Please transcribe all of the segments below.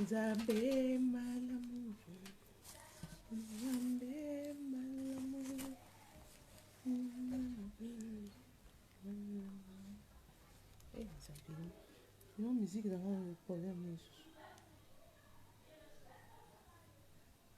Nzambe malamu Nzambe malamu Nzambe Yo musique na nga problème lisusu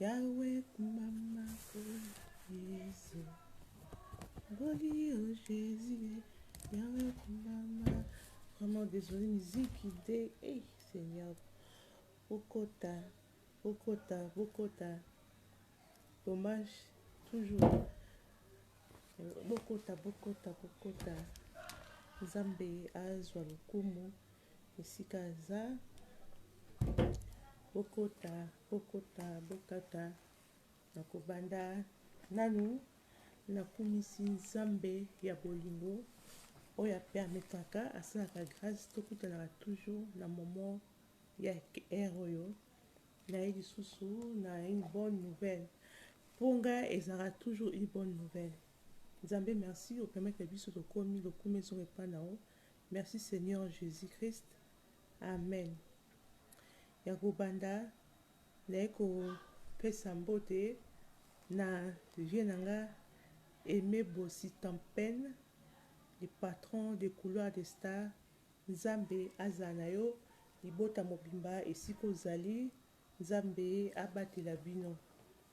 Yahweh kumama oh Yesu Ngoli oh Jésus Yahweh kumama Vraiment désolé musique idée Hey Seigneur Bokota Bokota Bokota Dommage toujours Bokota Bokota Bokota Nzambe azwa lokumu esika aza Bokota Bokota bokata nakobanda nanu nakumisi nzambe ya bolingo oyo a permetaka asalaka grace tokutanaka toujours na moment ya heure oyo naye lisusu na une bonne nouvelle po nga ezalaka toujours une bonne nouvelle nzambe merci o permettre biso tokomi lokumu ezonga epa na yo merci seigneur jesus christ amen Ya kobanda naye ko pesa mbote na vieux na nga Aime Bossy Tampen le patron de couloir de star nzambe azala na yo libota mobimba esika ozali nzambe abatela bino.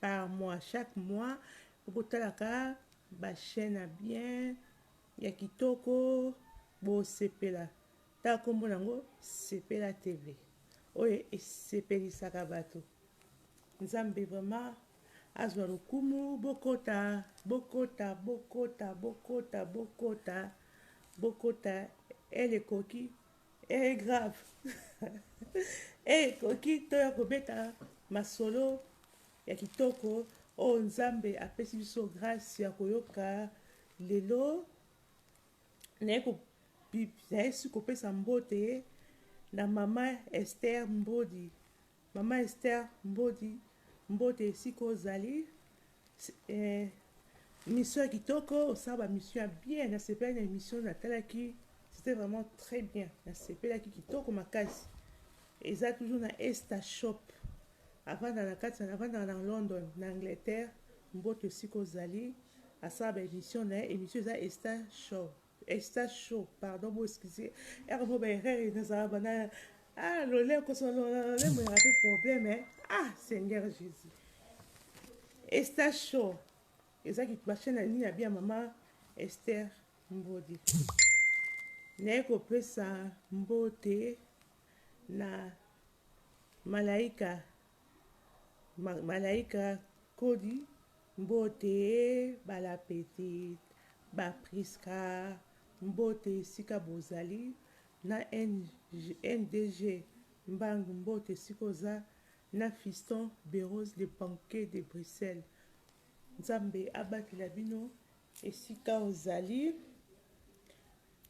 par mois chaque mois bokotalaka ba chaine ya bien ya kitoko bosepela ta kombo nango sepela tv oyo esepelisaka bato nzambe vraiment azwa lokumu bokota bokota bokota bokota bokota bokota elekoki Ehh grave ehh ekoki toya kobeta masolo ya kitoko oyo nzambe apesi biso grace ya koyoka lelo naye ko nayesi kopesa mbote na mama Esther Mbodi Mama Esther Mbodi, mbote esika ozali. Emission ya kitoko, osala ba mission ya bien, nasepeli na emission natalaki, c'était vraiment très bien, nasepelaki kitoko makasi. Eza toujours na Esta Shop, avanda na kati, avanda na London, na Angleterre, mbote esika ozali, asala ba emission na ye, emission eza Esta Show. Esta show pardon bo excuse ere mo ba erreur ina za ba na ah lole ko so lole lole mo ya pe problème hein ah Seigneur Jésus Esta show eza ki ba chaîne ni ya bien maman Esther Mbodi naye kopesa mbote na malaika malaika kodi Mbote ba la petite, ba Prisca mbote esika bozali na NDG mbangu mbote esika oza na fiston berose le banquier de Bruxelles nzambe abatela bino esika ozali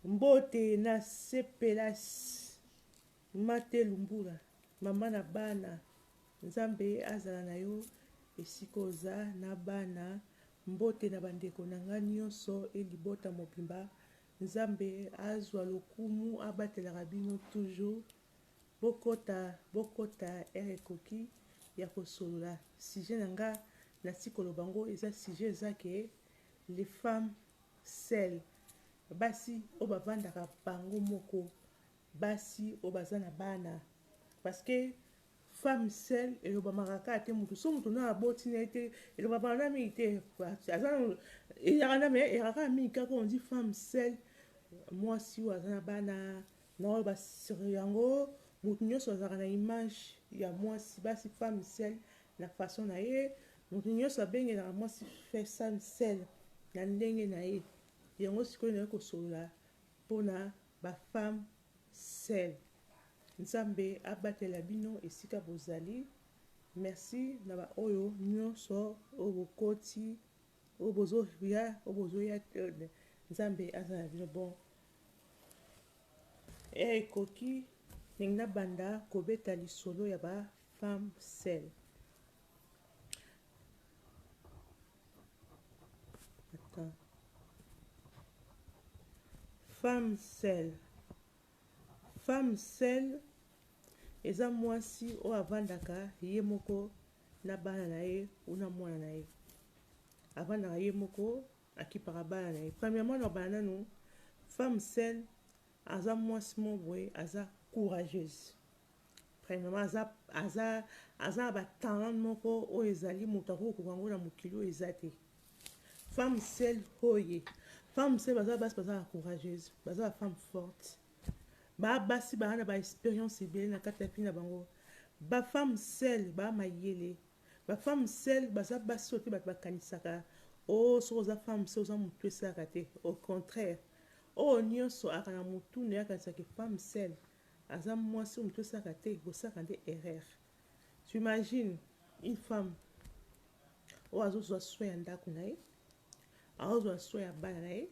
mbote na sepelas. Marthe Lumbula maman na bana nzambe azala na yo esika oza na bana mbote na ba ndeko na nga nionso et libota mobimba nzambe azua lokumu abatelaka bino toujours bokota bokota heure ekoki ya kosolola sujet na nga nati koloba ngo eza sujet eza ke les femmes seules basi oyo bavandaka bango moko Basi oyo baza na bana parce que femme seule elobamaka kaka te mutu soki mutu nanu aboti na ye te elobamaka na mingi te aza nanu eyaka na mais eyaka kaka mingi kaka on dit femme seule mwasi oyo aza na bana na oyo ba yango mutu nyonso azalaka na image ya mwasi basi femme seule na façon na ye mutu nyonso abengelaka mwasi femme seule na ndenge na ye yango sikoyo naye kosolola mpona Ba femme seul nzambe abatela bino esika bozali merci na ba oyo nionso oyo bokoti oyo bozo ya oyo bozo ya nzambe azala na bino bon heure ekoki ndenge na banda kobeta lisolo ya ba femme seul Attends. Femme seule. Femme seule eza mwasi oyo avandaka ye moko na bana na ye ou na mwana na ye avandaka ye moko akipaka bana na ye premièrement nalobana nanu femme seule Aza muasi moko boye aza courageuse premièrement aza aza aza na ba talent moko oyo ezali moto ako koka yango na mokili oyo eza te femme seule hoye femme seule baza basi baza ba courageuse baza ba femme forte ba basi baa na ba expérience ebele na kati ya vie na bango ba femme seule ba mayele ba femme seule baza basi oyo te bato bakanisaka o oh, soki oza femme seule oza motu esalaka te au contraire Oyo nionso aka na mutu naye akanisa ke femme seule aza muasi oyo mutu esalaka te bosaka nde erreur tu imagine une femme oyo azo zua soin ya ndaku naye azo zua soin ya bana naye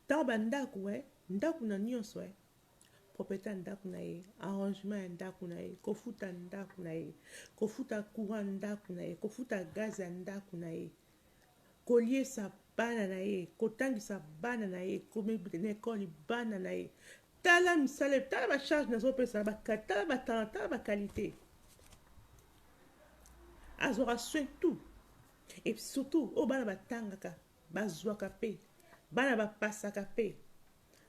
tango ba ndaku eh ndaku na nionso eh propriete ya ndaku naye arrangement ya ndaku naye kofuta ndaku naye kofuta courant ndaku naye kofuta gaz ya ndaku naye koliesa bana na ye, kotangisa bana na ye, komibida na ekoli bana na ye. Tala misala, tala ba charge nazopesa, tala ba talent, tala ba qualité. Azwaka soin tout. Et surtout, oyo bana batangaka, bazwaka pe, bana bapasaka pe.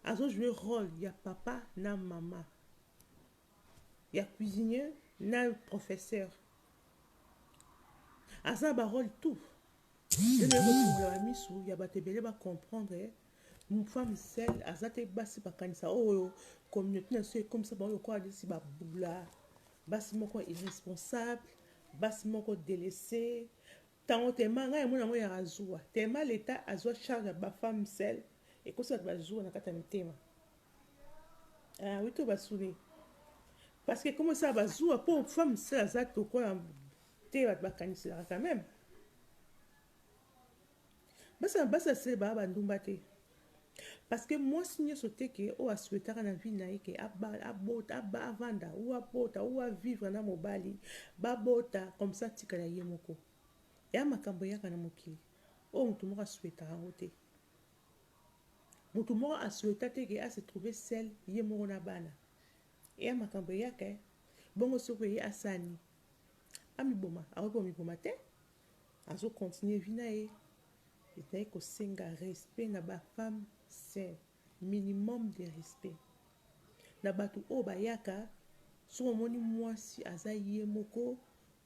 Azo jouer role ya papa na mama. ya cuisinier na professeur aza na barole tout eekofungola misu ya bato ebele bacomprendre femme sel aza te basi bakanisa oyo communauté na biso ekomisa bango lokola neti babula basi moko irresponsable basi moko delese ntango tema ngai yamona yango ya azuwa tema leta azwa charge ya bafemme sel ekosi bato bazuwa na kati ya mitema Ah, oui, tout va souler. Parce que comment ça va jouer pour femme, ça, ça, tout quoi, t'es va te bacancer quand même. Basa, basa, c'est ba, ba, ndumba, t'es. parce que mwasi nyonso te ke oyo aswetaka na vie na ye ke abota avanda ou abota ou avivre na mobali babota comme ça atikala ye moko eya makambo eyaka na mokili oyo moto moko aswetaka yango te Mutu moko a souhaita te que a se trouver seul ye moko na bana. Eya makambo eyaka hein. Bongo soki oye asani amiboma akoki komiboma te azo continuer vie na ye. Ezali kosenga respect na ba femmes c'est minimum de respect na batu oyo bayaka soki omoni muasi aza ye moko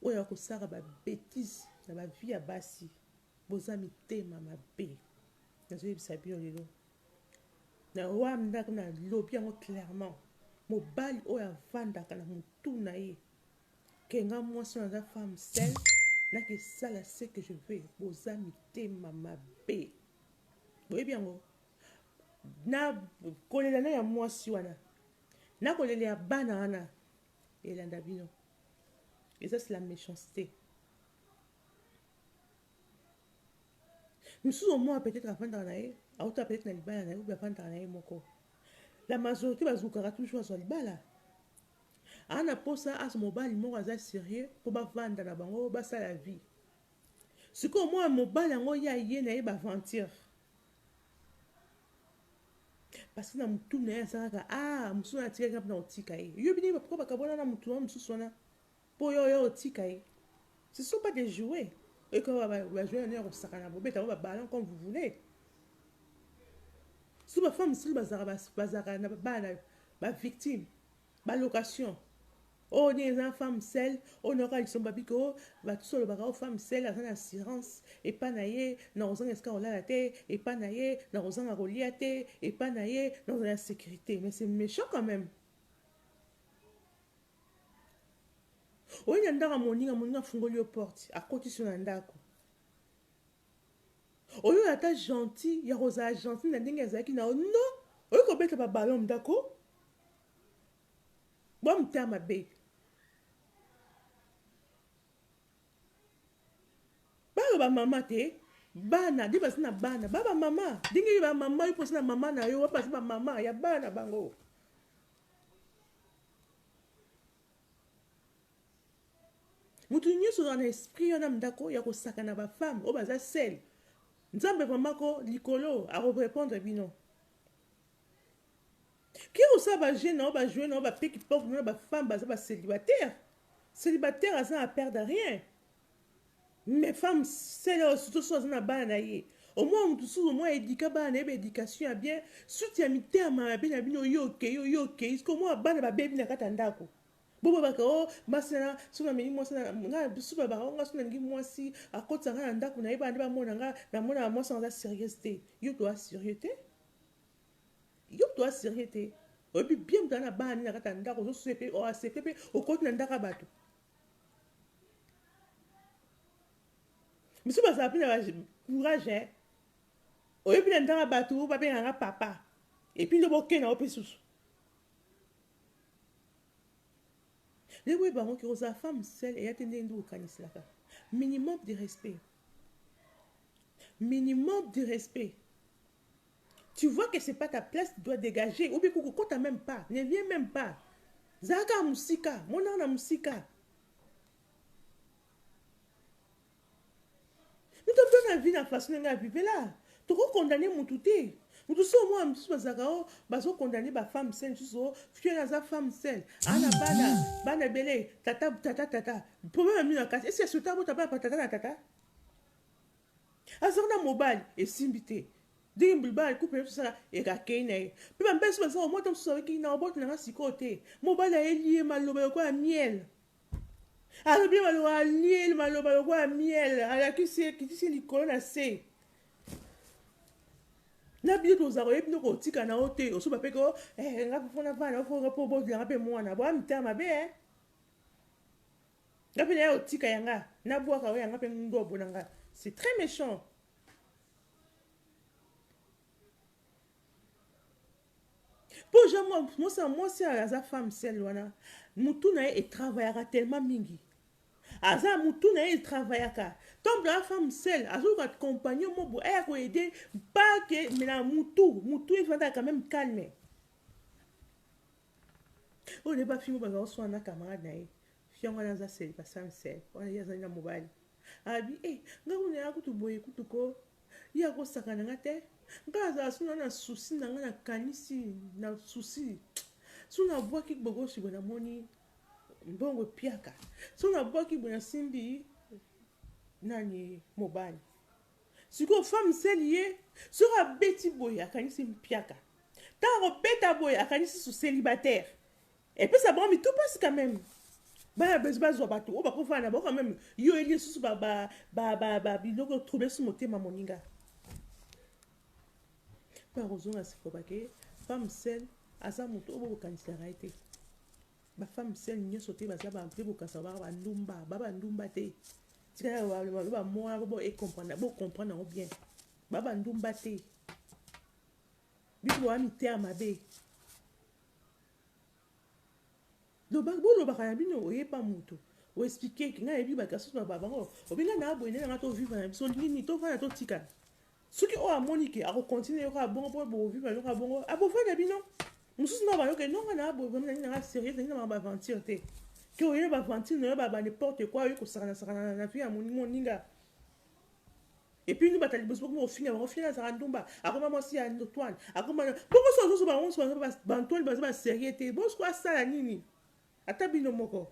oyo akosaka ba betises na ba vie ya basi. Boza mitema mabe nazo yebisa bino lelo na wamda na lobi yango clairement mobali oyo avandaka na mutu na ye ke nga mwasi oyo naza femme seule nakesala ce que je veux boza mitema mabe boyebi yango na kolela na ya mwasi wana na kolela ya bana wana elanda bino eza sila méchanceté Misusu omona peut etre avandaka na ye auta peut etre na libala na ye oubien avandaka na ye moko la majorité bazukaka toujours azwa libala aa na posa azo mobali moko aza sérieux mpo bavanda na bango basala vie sikoyo omona mobali yango ye aye na ye baventure parce que na motu na ye aza kaka a ah, mosusu wana atikaki mpe na kotika ye yo bino pourkoi bakabwana na motu wana mosusu wana Po yo oya otika ye ce ne sont pas des jouets oye ko yeba ba jouets na nini ya ko sakana bo beta yango ba ballons comme vous voulez surtout ba femmes mosusu ba zalaka ba zalaka na ba bana ba victimes ba locations oyo nini eza na femme seule oyo na yoka lisomba biko ba tusu olobaka oyo femme seule aza na assurance epa na ye na kozanga esika kolala te epa na ye na kozanga kolia te epa na ye na kozala na sécurité mais c'est méchant quand même Oye na ndako ya moninga, moninga afungoli yo porte, akotisi yo na ndako. Oyo ata gentil ya kozala gentil na ndenge azalaki na yo non, oye kobeta ba ballon mdako bwa mta mabe. Bana ba mama te, bana de baza na bana, ba ba mama ndenge ba mama yo poza na mama na yo, ba baza ba mama ya bana bango. Mutu nyoso ozalaka na esprit wana mdako ya kosakana ba femme oyo baza seule nzambe vraiment ko likolo ako repondre bino ke kosala ba jeu na yo ba joue na yo ba peki poko na ba femme baza ba celibataire celibataire aza na perdre rien Mais femme seule oyo surtout soki aza na bana na ye omona mutu mosusu omona educa bana na ye ba education ya bien suite ya mitema mabe na bino yo okeyi yo okeyi soki omona bana babebi na kati ya ndako bobabaka o oh, mwasi na soki nameli mwasi nga bisu babaka o nga soki nalingi mwasi akotisa nga na ndako na ye bana nde bamona nga namonaka mwasi yango aza serieuse te yo toa serieux te yo toa serieux te oyebi bien mutana na bana nde na kati ya ndako ozosuye mpe oaccepte mpe okoti na ndako ya bato misusu bazala mpe na ba courage hein oye mpe na ndanga bato babenga nga papa epi nde bokenda ngo mpe susu ndenge boyeba yango ke ozala femme sele eya te ndenge nde okaniselaka minimum de respect minimum de respect Tu vois que c'est pas ta place tu dois degager ou bien ko kota meme pas ne viens meme pas zala kaka musika monana na musika mutu aza na vie na façon ndenge avivela toko condamne mutu te mutu so omona misusu bazalaka o oh, bazo condamne ba femme sel misusu o oh, fio na aza femme sel ana bana bana ebele tata tata tata problème ya mino na kati esi ya sota bota bana pa tata na tata Azalaka na mobali, esimbi te. Ndenge bilobaka na couple na biso ezalaka, eke akeyi na ye. Pe ba mbesi baza komota mosusu alobi na kobota na nga sikoyo te. Mobali ayeli ye maloba lokola miel. Alobi ye maloba alieli maloba lokola miel, alakisi ye, akitisi ye likolo na se. Na bino tozala koyebi bino kotika na yo te, osoba pe ko eh nga po na vanda ofo nga po obota na nga pe mwana. Boa mitema mabe eh. Nga pe nayo tika ya nga na bwaka oyo ya nga pe ngobo na nga c'est très mechant. Po ja mwa mosa mwasi aza femme seule wana mutu na ye e travaillaka tellement mingi aza mutu na ye e travaillaka tant que femme seule azoka compagnon mobo aya ko aider pas que mais na mutu mutu evanda quand même calme Oyo nde bafingo baza koswana na camarade na ye fiango wana aza seliba sami sel wana ye azali na mobali abi e eh, nga kuna ya kutu boye kutu ko ye akosaka na nga te nga azala suna na susi na nga nakanisi na susi so nabwaki bogosi boye namoni mbongo epiaka so nabwaki boye nasimbi nani mobali Sikoyo femme seule ye soki abeti boye akanisi mpiaka tango akobeta boye akanisi su celibataire epesa bango mitu pasi quand meme bana besoin bazwa batu oyo bako fana na bango quand meme yo oyebi lisusu ba ba ba ba ba biloko trouble su motema moninga pe akozonga sikoyo bake femme seule aza mutu oyo bokokangisaka ye te Ba femme seule nioso te baza ba vrais bokasa ba ba ndumba ba ba ndumba te tika ya ba ba ba moa bo e comprendre bo comprendre yango bien ba ba ndumba te bino boa miteya mabe loba bolobaka na bino oyepa moto oexplike ngai ayebi bato asusu baba bango obinga na aboye nde na ngai tovivre na biso nini tovanda totikana Soki oyo amoni ke ako continuer yoka bongo po bo vivre na yoka bongo a bovue na bino. Mususu na ba yo ke non nga na bovue na nga serieux na nga ba aventure te. Ke oye ba aventure na yo ba ba n'importe quoi oye ko sakana sakana na vie ya moninga. Et puis nous ba talibos boko mo finga bango finga zaka ndumba akoma mwasi ya Antoine akoma boko so zo ba wonso ba ba Antoine ba ba serieux te bos ko asala nini ata bino moko.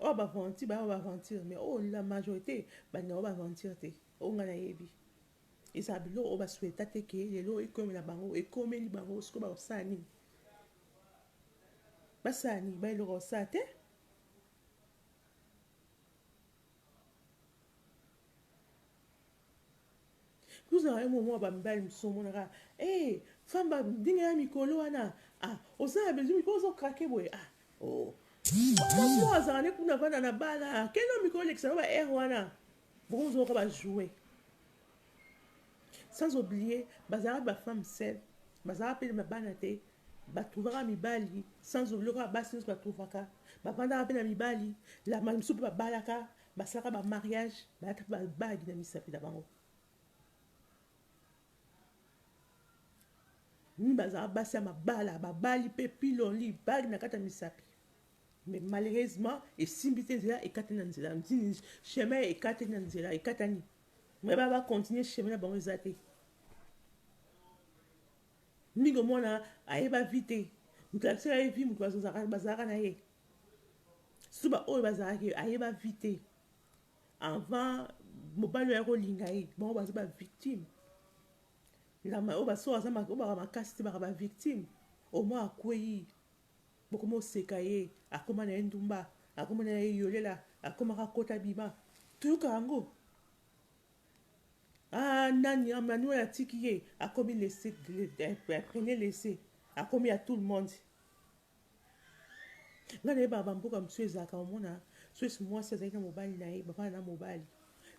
Oyo ba aventure ba ba aventure mais oyo la majorite balingaka ba aventure te oyo nga nayebi ezala biloko oyo ba souhaita te ke lelo ekomela bango ekomeli bango siko bakosala nini basala nini ba eloko kosala te Tozala yo momo ba mibali mosusu omonaka eh femme ba ndenge ya mikolo wana ah oza na besoin mikolo ozo craquer boye ah oh mwasi moko azala ne kuna vanda na bala kende mikolo lekisa na ba air wana bokomozoka ba jouer Sans oublier bazalaka ba femmes seules bazalaka pe na bana te ba trouvaka mibali sans oublier lokola basi nionso ba trouvaka ba vandaka pe na mibali la mbala misusu pe babalaka basalaka ba mariage balataka ba bague na misapi na bango mimi bazalaka basi ya mabala babali pe pile au lit bague na kati ya misapi mais malheureusement esimbi te nzela ekatani na nzela ntini chemin ekatani na nzela ekatani Mais ba ba continuer chemin na bango eza te. Mingo mwana ayeba vie te. Moto alakisaka ye vie moto bazalaka na ye. Surtout ba oyo bazalaki ayeba vie te. Avant mobali oyo akolinga ye bango baza ba victime. Lama oyo basoka aza makasi te baka ba victime. Au moins akwei Boko mo seka ye akoma naye ndumba akoma naye yolela akoma ka kota bima toyoka yango ah nani Emmanuel atiki ye akomi laisse prenez laisse akomi ya tout le monde nga na ye ba mboka mosusu ezalaka omona soki mwasi azali na mobali na ye bavanda na mobali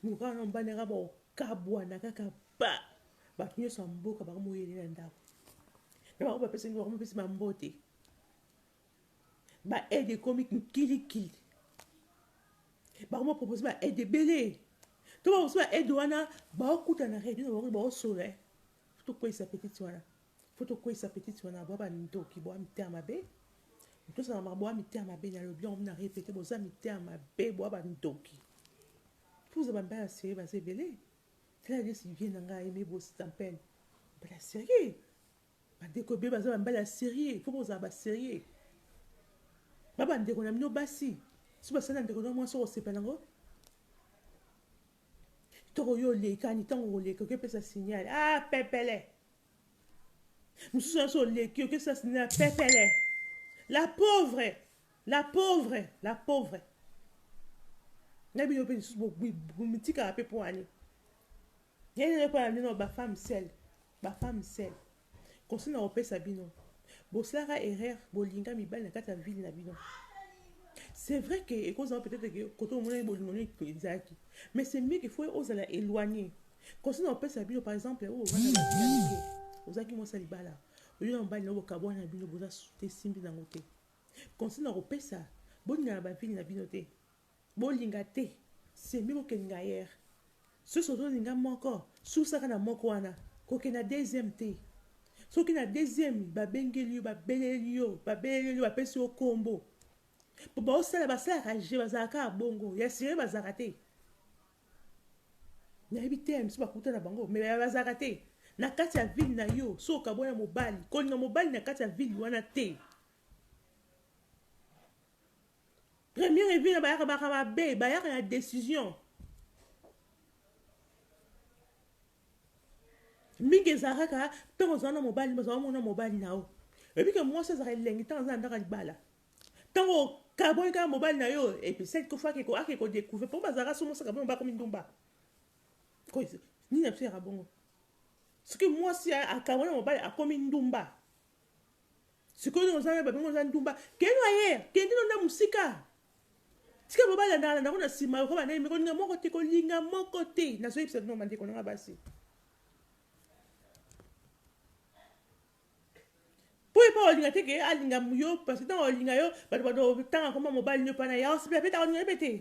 mokaka na mobali na ye kaka bakabwana kaka Ba bato nionso ya mboka ba komi oyele na ndako na bango ba pesi bango pesi ba mbote ba aide ekomi kili kili ba komi propose ba aide ebele to ba ba aide wana ba okuta na radio na bango ba osola eh. to kwesa petite wana faut to kwesa petite wana ba ba ndoki ba mita mabe to sa ma ba mita mabe na lobi on na répéter boza mita mabe ba ba ndoki tous ba mbaya se ba se belé Clarisse vie na nga aime bo stampel bala sérieux bandeko ebele baza bambala ya sérieux fo bozala ba sérieux ba bandeko na bino basi so basali na ndeko na mwasi okosepela yango toko yo olekani ntango koleka okepesa signal ah pepele Mususu nionso oleki oke sas na pepele la pauvre la pauvre la pauvre na bino pe lisusu bomitikaka pe poani yene nde pona bino ba femme sel ba femme sel conseil na kopesa bino bosalaka erreur bolinga mibali na kati ya ville na bino c'est vrai que ekozala peut-être que koto omonaki bolingo nini ezalaki mais c'est mieux que faut ozala éloigné Conseil na opesa bino par exemple oyo bana ba vie ya mike. Ozalaki mwasi ya libala. Oyo na mobali na yo bokabwani na bino boza te simbi na ngo te. Conseil na kopesa bolingana ba vie na bino te. Bolinga te. C'est mieux kokende ailleurs. Soki ozolinga moko, susaka na moko wana. Kokende na deuxième te. Soki na deuxième babengeli yo, babeleli yo, babeleli yo, bapesi yo kombo. Baosala basalaka je bazalaka bongo. Ya sire bazalaka te. Nayebi te misusu bakuta na bango mais bazalaka te na kati ya ville na yo so okabwa na mobali kolinga mobali na kati ya ville wana te première evie na bayaka baka babe bayaka ya décision mingi ezalaka kaka ntango ozala na mobali bazala mona mobali na yo oyebi ke mwasi azalaka elengi ntango aza na ndako ya libala Tango okabwani kaka mobali na yo epesaki koffi ake ko ake ko decouvrir po bazalaka somo saka bino bakomi ndumba ko nini na biso yaka bongo soki mwasi ya akabwani na mobali akomi ndumba sikoyo nini oza na babingo oza ndumba kende na ye kende no na mosika tika mobali andaka na ndako na nsima yoko bandai meko linga moko te kolinga moko te nazoyebisa bino bandeko na nga basi po ye pe akolinga te ke alinga yo parce que tango akolinga yo bato bato tanga koma mobali nio pana ya ospe pe takolinga ye pe te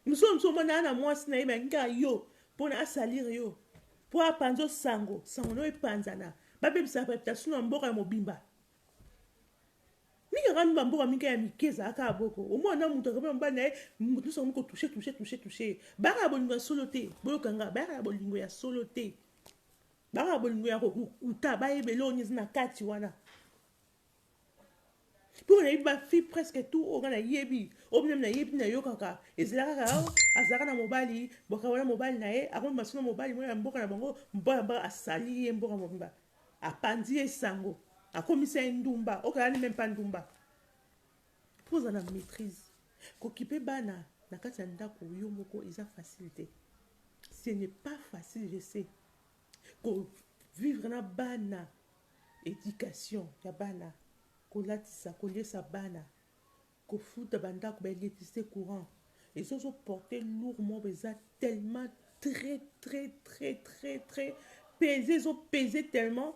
mosusu mosusu omona ana mwasi na ye bayangi kaka yo mpona asalire yo mpo apanza osango sango na yo epanzana babebisa reputation ya mboka ya mobimba mingi akangi bamboka mingi ya mike ezalaka ya boko omona na moto akomi mobali na ye moto nyonso akomi kotouche touche touche touche bayaka ya bolingo ya solo te boyokanga bayaka ya bolingo ya solo te Banga bolingo ya kokuta bayeba eloko nini eza na kati wana mpo nayebi bafille presque tout oyo nga nayebi oyo bino nayebi nayokaka ezala kaka oh, azalaka na mobali boka wana mobali na ye akomi masolo mobali mwana ya mboka na bango mboka mboka asali ye mboka mobimba apanzi ye sango akomisa ye ndumba okalani meme mpa ndumba Faut ozala maitrise kokipe bana na kati ya ndaku yo moko eza facile te ce n'est pas facile je sais ko vivre na bana education ya bana kolatisa koliesa bana kofuta ba ndaku ba electricité courant ezozo porter lourd moko eza tellement très très très très très pese ezo pese tellement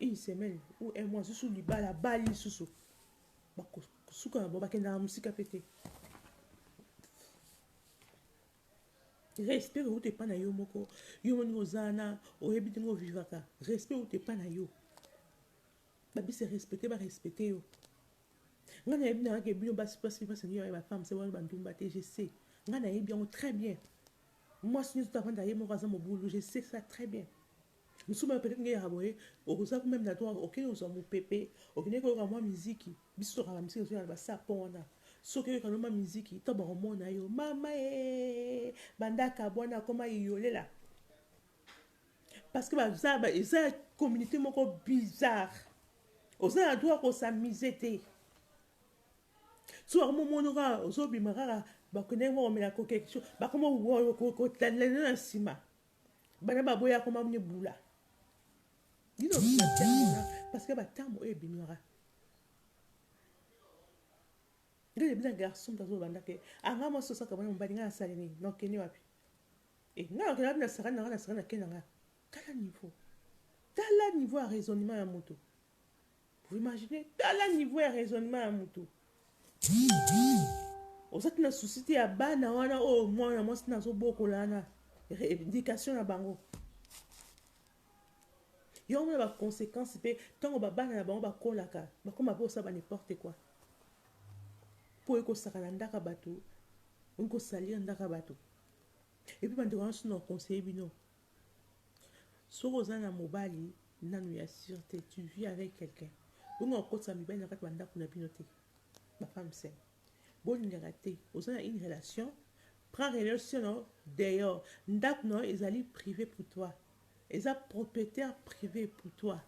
une semaine ou un mois susu libala bali susu bakosuka na bango bakendaka mosika mpe te respect outa epai na yo moko yo moni oza na oyebi ndenge ovivaka respect outa epai na yo babise respecte barespecte yo ngai nayebi nayake bino basi basi basi nio ya bafemme se wana bandumba te je sais ngai nayebi yango très bien mwasi nyonso tavanda ye moko aza mobulu je sais ça très bien Lisusu ba pede ngeyaka boye oza ko meme na droit okende kozwa mupepe okende koyoka mwa miziki biso tokaka na miziki tozoyoka na ba sapon wana soki oyoka no mwa miziki to bakomona yo mama ee banda akabwana akoma iyolela parce que baza ba eza ya communauté moko bizarre oza na droit ko s'amuser te so bakomomona kaka ozobima kaka bakendeki mwa komela kokekiso bakoma kotalela na nsima Bana ba boya akoma mne bula. Dino bula tiamona parce que ba tambo e binora. Nde le bina garçon tazo banda ke anga mwa sosa ka mwana mbadi nga asali nini non keni wapi. E nga na kena bina saka na nga na saka na kena nga. Tala niveau. Tala niveau ya raisonnement ya moto. Vous imaginez? Tala niveau ya raisonnement ya mutu. Oza te na souci te ya bana wana oyo mwana mwasi nazo bokola wana éducation na bango. Yango mona ba conséquences mpe ntango babana na bango bakolaka bakoma mpe osala ba n'importe quoi mpo ekosaka na ndaka bato okosalir ndaka bato epuis bandeko wana sino conseiller bino Soki oza na mobali nanu ya sur te, tu vis avec quelqu'un, bongo okotisa mibali na kati ba ndaku na bino te, ba femme seul bolingaka te, oza na une relation prend relation na yo dehors, ndaku na yo ezali prive pour toi, eza proprietaire prive pour toi.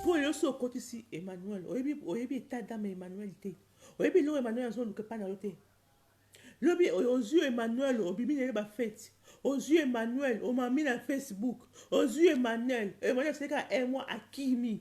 Po yo osi okotisi Emmanuel oyebi oyebi etat d'ame ya Emmanuel te oyebi eloko Emmanuel azo luka epai na yo te lobi ozui Emmanuel obimi na ye ba feti ozui Emmanuel omami na Facebook ozui Emmanuel Emmanuel asali kaka un mois akimi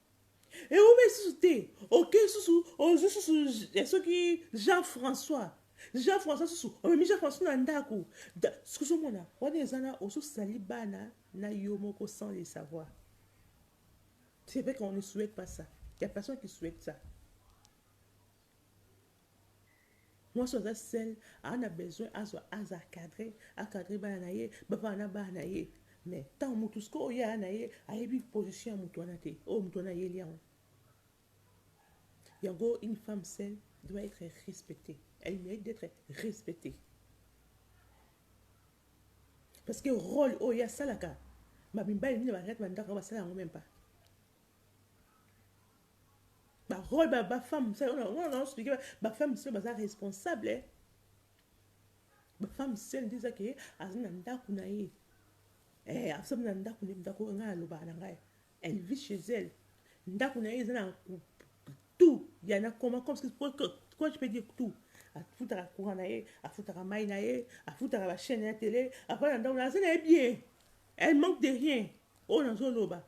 Eumeli susu te, okei susu, ozwi susu ya soki Jean François. Jean François susu, omemi Jean François na ndako. Soki ozomona, wana eza na ozosali bana na yo moko sans le savoir. C'est vrai qu'on ne souhaite pas ça. Il y a personne qui souhaite ça. Mwasi aza seul aza na besoin azwa aza cadre a cadre bana na ye bavanda na bana na ye mais ntango moto sikoyo oyo aya na ye ayebi position ya moto wana te oyo moto wana ayeli yango yango une femme seule doit être respectée elle mérite d'être respectée parce que rôle oyo ye asalaka bamibali nini bakati bandako yango basala yango meme pas Ba role ba ba femme musala wana wana na explique ba femme musala baza responsable ba femme musala nde eza ke aza na ndaku na ye eh aza na ndaku na ndaku nga na loba na ngai elle vit chez elle ndaku na ye eza na tout ya na koma comme ce que quoi je peux dire tout afutaka courant na ye afutaka mai na ye afutaka ba chaîne ya télé afana ndaku na aza na ye bien elle manque de rien oyo nazoloba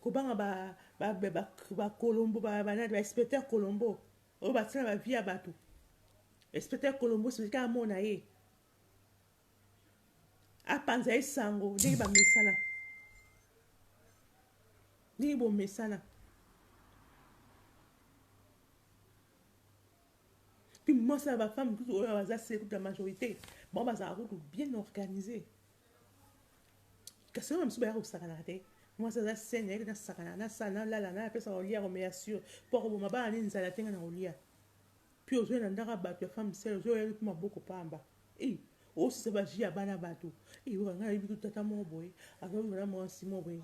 Kobanga ba ba ba ba colombo ba ba ba inspecteur colombo oyo batie na ba vie ya batu inspecteur colombo soki kaka amona ye apanza ye sango ndenge bamesana ndenge bomesana puis mwasi ya bafemme kutu oyo baza se kutu ya majorité bango bazalaka kutu bien organise kasi wana mosusu baya kosakanaka te mwasi aza sene yaki nasakana nasala nalala napesa kolia komeya sur mpo akoboma bana nini nzala te ngai na kolia mpe ozwi na ndaka bato ya femme sele ozwi oyebi mpe maboko pamba ei osisa baji ya bana bato ei oka ngai nayebi tu tata moko boye azobima na mwasi moko boye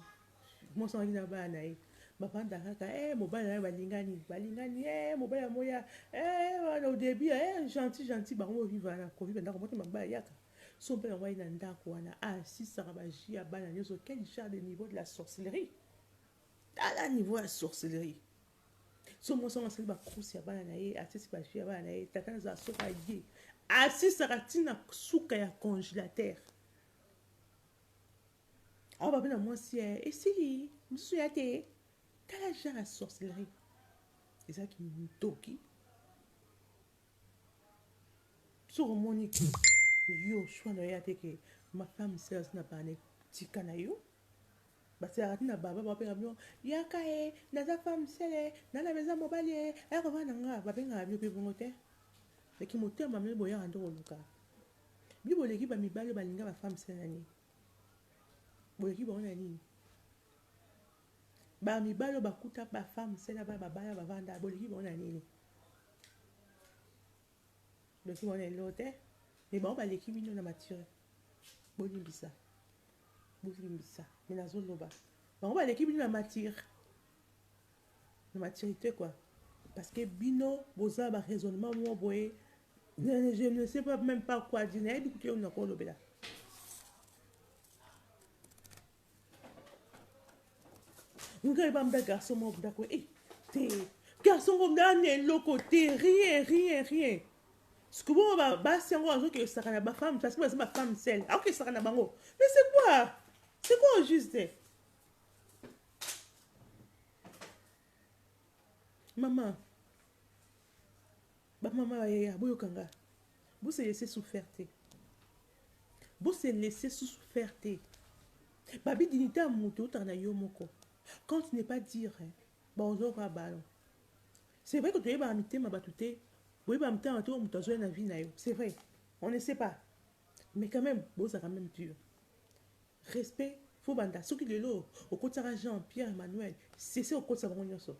mwasi angaki na bana na ye bafanda kaka e eh, mobali na ye balingani balingani e eh, mobali ya moya e eh, wana odebi e gentil gentil bango boviva na koviva ndako motema mabaya yaka Son père yango aye na ndaku wana a sisaka ba jus ya bana nioso quel genre de niveau de la sorcellerie tala niveau ya sorcellerie so mwasi yango asali ba crouse ya bana na ye atisi ba jus ya bana na ye tata na zala soki aye asisaka ntina suka ya congelateur awa babe na mwasi ya esili mosusu ya te tala genre ya sorcellerie ezalaki ntoki soki omoni ke yo choix na yo ya te ke ma femme sœur azali na bana tika na yo basalaka ti na baba babenga bino yaka e naza femme sele na na beza mobali e akoba na nga babengaka bino mpe bongo te leki motema mpe boyaka nde koluka bino boleki bamibali balinga bafemme sele na nini boleki bango na nini bamibali oyo bakuta bafemme sele bana babaya bavanda boleki bango na nini Doki wana eloo te mais bango baleki bino na mature bolimbisa bolimbisa mais nazoloba bango baleki bino na mature na maturité quoi parce que bino boza ba raisonnement mwa boye je ne sais pas même pas quoi dire nayebi kutu yo nakolobela ngai bamda garçon moko ndako e eh, te garçon ngo ngai na eloko te rien rien rien sikoyo ba basi yango azokesaka na bafemme parce que baza bafemme sel akokesaka na bango mais c'est quoi c'est quoi au juste Maman, ba maman ba yaya boyoka nga. Bo se laisser souffrir te. Bo se laisser souffrir te. Babi dignité ya moto eutaka na yo moko. Quand tu n'es pas dire, ba ozoka ballon. C'est vrai que tu es ba mitema batu te. Boye ba mitema batu moto azoya na vie na yo. C'est vrai. On ne sait pas. Mais quand même, boza quand même dur. Respect faut banda soki lelo okotisaka jean pierre Emmanuel sese okotisa bango nionso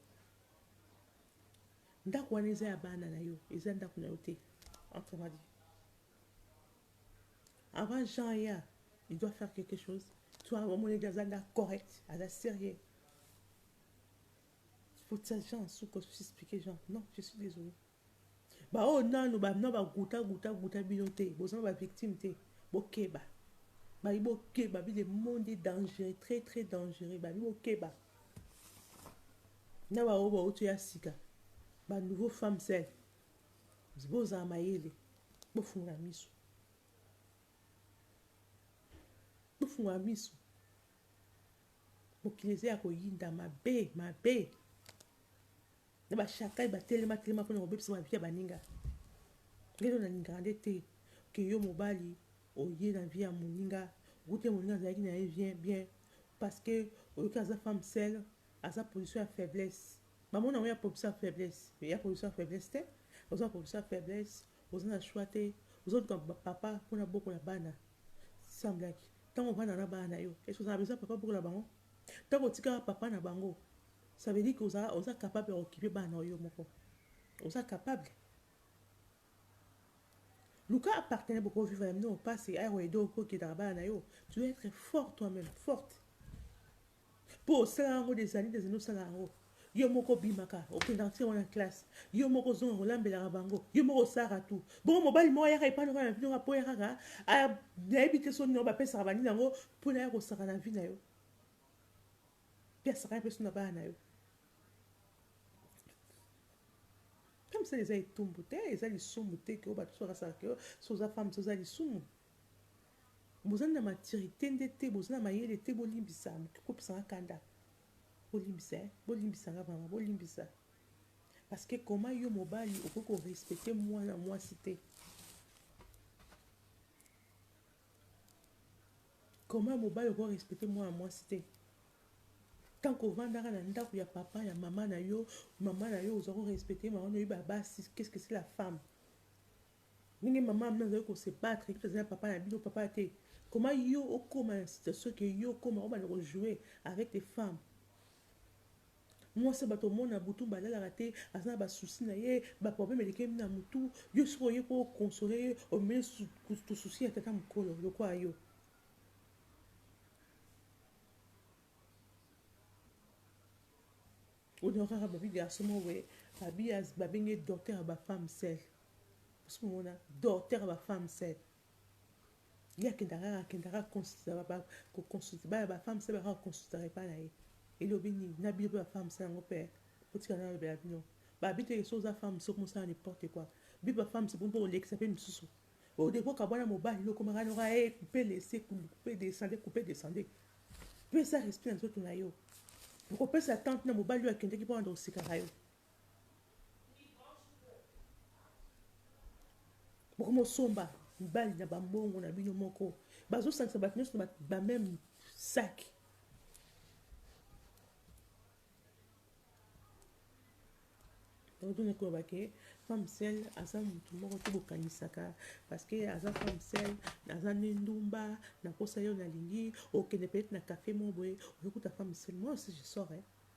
ndaku wana eza ya bana na yo eza ndaku na yo te entre moi dit avant jean aya il doit faire quelque chose toi omoni ete aza nda correct aza sérieux faut ça jean suka osusi expliquer jean non je suis désolé Ba oyo nanu ba na ba guta guta guta bino te boza na ba victime te bokeba babi bokeba bi le monde est dangereux très très dangereux babi bokeba na ba oyo ba oyo ya sika ba nouveau femme seule bozala mayele bofungola miso bofungola miso mokili eza ya koyinda mabe mabe Na ba shakal ba telema telema pona kobebisa ba vie ya baninga ngai nde nalingaka nde te que yo mobali oye na vie ya moninga okuti moninga azalaki na ye vien bien parce que oyoki aza femme seul aza position ya faiblesse ba mona ngo ya position ya faiblesse mais ya position ya faiblesse te oza position ya faiblesse oza na choix te ozo luka papa pona bokola bana semblaki tango ovanda na bana na yo est ce que oza na besoin papa bokola bango tango otika papa na bango Ça veut dire que oza oza capable ya occuper bana oyo yo moko? Oza capable? Luka a partenaire boko vivre na bino pasi aya ko aider ko kidaka bana na yo. Tu dois être fort toi même, forte. Po osala yango des années des années osala yango. Yo moko obimaka, okendaka ti yango na classe. Yo moko ozonga kolambelaka bango. Yo moko osalaka tout. Bongo mobali moko ayaka epai na bino mpo ya kaka nayebi te soni na yo bapesaka baninga yango mpo na ya kosaka na vie na yo. Mpe asakana mpe na bana na yo. Femme seule eza etumbu te, eza lisumu te que bato bakasaka que so oza femme seule oza lisumu. Bozali na maturité nde te, bozali na mayele te, bolimbisa kopesa nga kanda. Bolimbisa, eh? bolimbisa nga vraiment, bolimbisa. Parce que comment yo mobali okoki ko respecter mwana mwasi te? Comment mobali oko respecter mwana mwasi te? Tant que ovandaka na ndaku ya papa ya maman na yo, maman na yo oza ko respecter maman na yo oyeba basi qu'est ce que c'est la femme? Ndenge maman na bino azali ko se battre epuis azali na papa na bino papa te comment yo okoma na situation que yo okoma obanda ko jouer avec les femmes? Mwasi ya batu omona butu mba alalaka te aza na ba soucis na ye ba problème elekeli na mutu yo soki oye po o consoler ye omemi lisusu soucis ya tata mukolo lokola yo. Oyo kaka babi garçon moko boye babi babengi ye docteur ya ba femme seule osi komona docteur ya ba femme seule. Ye akendaka kaka, akendaka kaka consultaka ba ko consulter bana ba femmes seuls bakaka ko consultaka epai na ye. Elobi nini? Na bino pe ba femmes yango pe eh? Botika ngai nalobela bino. Ba bi te ke soki oza femme soki mosala n'importe quoi. Bino ba femmes bino pe bolekisa pe misusu. Au debut okabwana mobali yo okomaka noka eh coupe laisser coupe descendre coupe descendre. Pesa respect na nzoto na yo. Okopesa temps tina mobali oyo akendeki po abanda kosekaka yo. bokomosomba mibali na bambongo na bino moko bazosangisa bato nyonso na bameme saki tozonaki koloba ke femme sel aza motu moko te bokanisaka parceke aza femme sel aza nde ndumba nakosa yo nalingi okende peut-être na cafe moko boye ozokuta femme sel moi aussi je sors eh?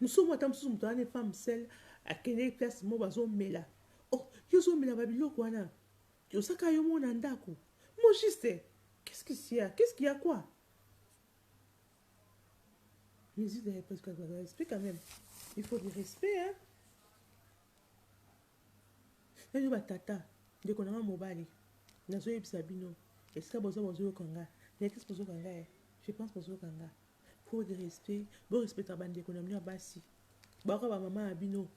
Musomo ata mususu moto wana femme seule akendeki place moko bazomela oh yo ozomela ba biloko wana oza kaka yo moko na ndako mo juste qu'est-ce qui s'y a qu'est-ce qu'il y a quoi musique de respect quand même il faut du respect hein nayo batata ndeko na nga mobali nazoyebisa bino esika boza bozoyoka nga na ekisi bozoyoka nga je pense bozoyoka nga Trop de respect bo respectaka ba ndeko na bino ya basi baoka ba maman na bino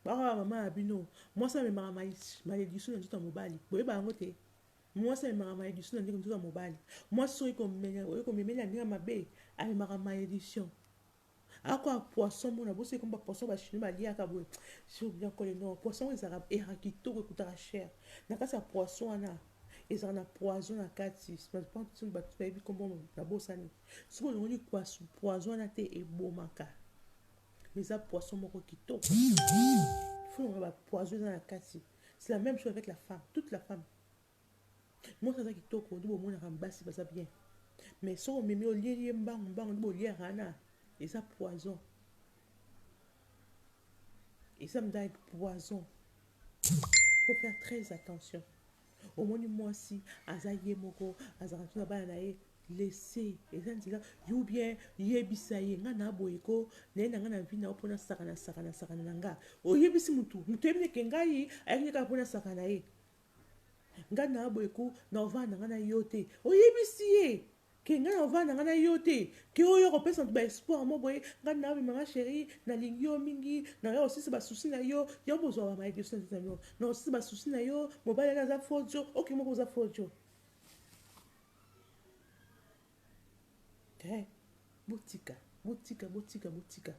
baoka ba maman na bino mwasi amemaka malediction na nzoto ya mobali boyeba yango te mwasi amemaka malediction na ndenge nzoto ya mobali mwasi soki komemela ndenge mabe amemaka malediction Ako ya poisson mona boso ekomi ba poisson ba chinois baliaka boye sur bien kole non poisson ezalaka eraka kitoko ekutaka cher na kati ya poisson wana ezalaka na poison na kati bato bayebi kombo na bosani soki olongoli poison wana te ebomaka mais eza poisson moko kitoko fo longola ba poison eza na kati c'est la même chose avec la femme toute la femme Mwasi aza kitoko nde bomonaka basi baza bien mais soki omemi olieli ye mbangu mbangu nde boliaka wana eza poison eza mda poison faut faire très attention omoni mwasi aza ye moko azalaka tuna bana na ye lese eza nzela yo bien yebisa ye nga na boye ko naye na nga na vi na yo mpo nasakana sakana sakana na nga oyebisi motu motu oyebi neke ngai ayaki nde kaka mpo nasakana ye Nga na boye ko na ovanda nga na yo te oyebisi ye ke nga na ovanda nga na yo te ke oyo ko pesa ba espoir mo boye nga na bima nga cheri na lingi yo mingi na yo osisi ba souci na yo yo bo zua ba maye biso na yo na osisi ba souci na yo mobali na aza faux djo ok moko oza faux djo Eeh botika botika botika botika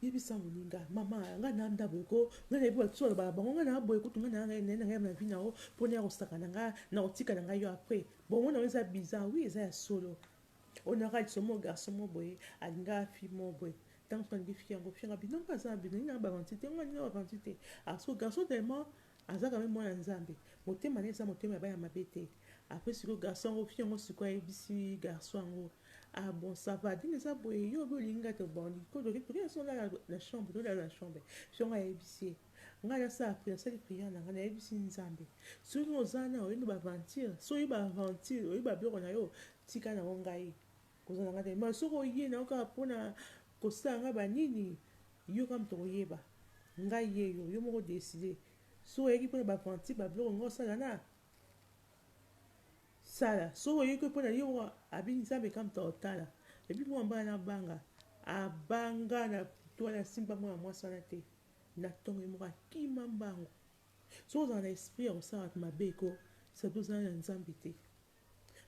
yebisa moninga mama ngai na nda boye ko ngai nayebi bato na bala bango ngai na boye kutu ngai na ngai na ngai na vie na yo mpona ya kosaka na ngai na kotika na ngai yo après bongo na yo eza bizarre oui eza ya solo on aura dit somo garçon mo boye alinga fille mo boye ntango soki alingi fille yango fille yango abino mpe aza na bino ngai na bavanti te ngai na bavanti te aso garçon tellement Aza quand meme mwana nzambe. Motema naye eza motema ya bana mabe te. Après sikoyo garçon yango fille yango sikoyo ayebisi garçon yango ah bon ça va donc eza boye yo obi olingi nga te bon ko toke toke na sona na chambre to lala na chambre fille yango ayebisi ye nga na sala prière sali prière na nga na yebisi nzambe soki oza na oyebi ba aventure soki ba aventure oyebi ba biloko na yo tika na ngo ngai Kozala nga te mawa soki oye na yo kaka pona kosala nga ba nini yo kaka moto okoyeba nga ye yo yo moko decide soki oyaki pona ba aventure ba biloko nga osala na sala soki oyeki pona yo moko abi nzambe kaka moto otala ebi mwa mbala na banga abanga na toi na simba mwana mwasi wana te na tongo ye moko akima mbangu soki ozala na esprit ya kosala mabe ko sabi ozala na nzambe te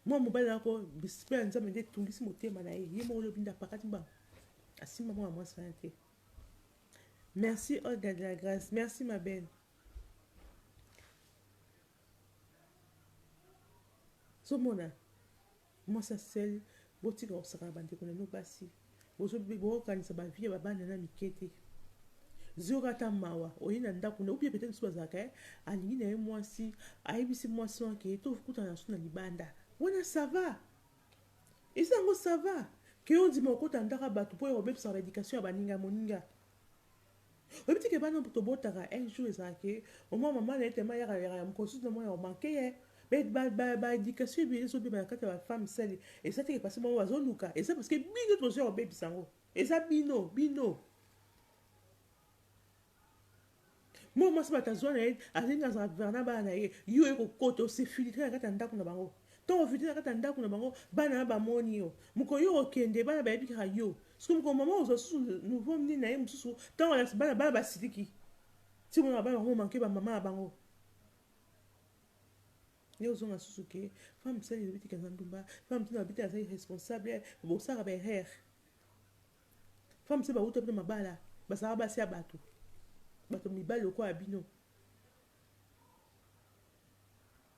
Mwana mobali na ko bispe ya nzambe nde etungisi motema na ye ye moko lobi nde apakati mbangu asimba mwana mwasi wana te merci olga de la grace merci ma belle zomona mwasi aseli botika kosakana bandeko na bino basi Bozo boko kanisa ba vie ya ba bana na mike te zioka ata mawa oye na ndaku na ou bien peut etre bazalaka eh alingi na ye mwasi ayebisi mwasi wana ke to kutana su na libanda wana ça va eza yango ça va ke ondima okota ndaka batu po ya kobebisa ba education ya baninga moninga Oyebi te que bana oyo tobotaka un jour ezalaka que au moins maman naye tellement ayaka yaka ya mokolo susu na mwana o manque ye mais ba ba ba education ebele ezo beba na kati ya ba femme seule eza te que parce que bango bazo luka eza parce que bino nde bozo ya kobebisa yango eza bino bino mwana mwasi bato azwa na ye alingi azala gouverne bana na ye yo oye kokota osefiltre na kati ya ndako na bango To vide na kati ya ndaku na bango bana na ba moni yo mokolo yo okende bana bayebi kaka yo siko mokolo maman okozua lisusu nouveau nini na ye mosusu tango alakisi bana bana basiliki ti omonaka bana bango manque ba maman na bango yo ozonga susu ke femme sali elobi tika za ndumba femme tuna bite aza irresponsable bosaka ba erreur femme se bawuta bino mabala bazalaka basi ya bato bato mibali lokola bino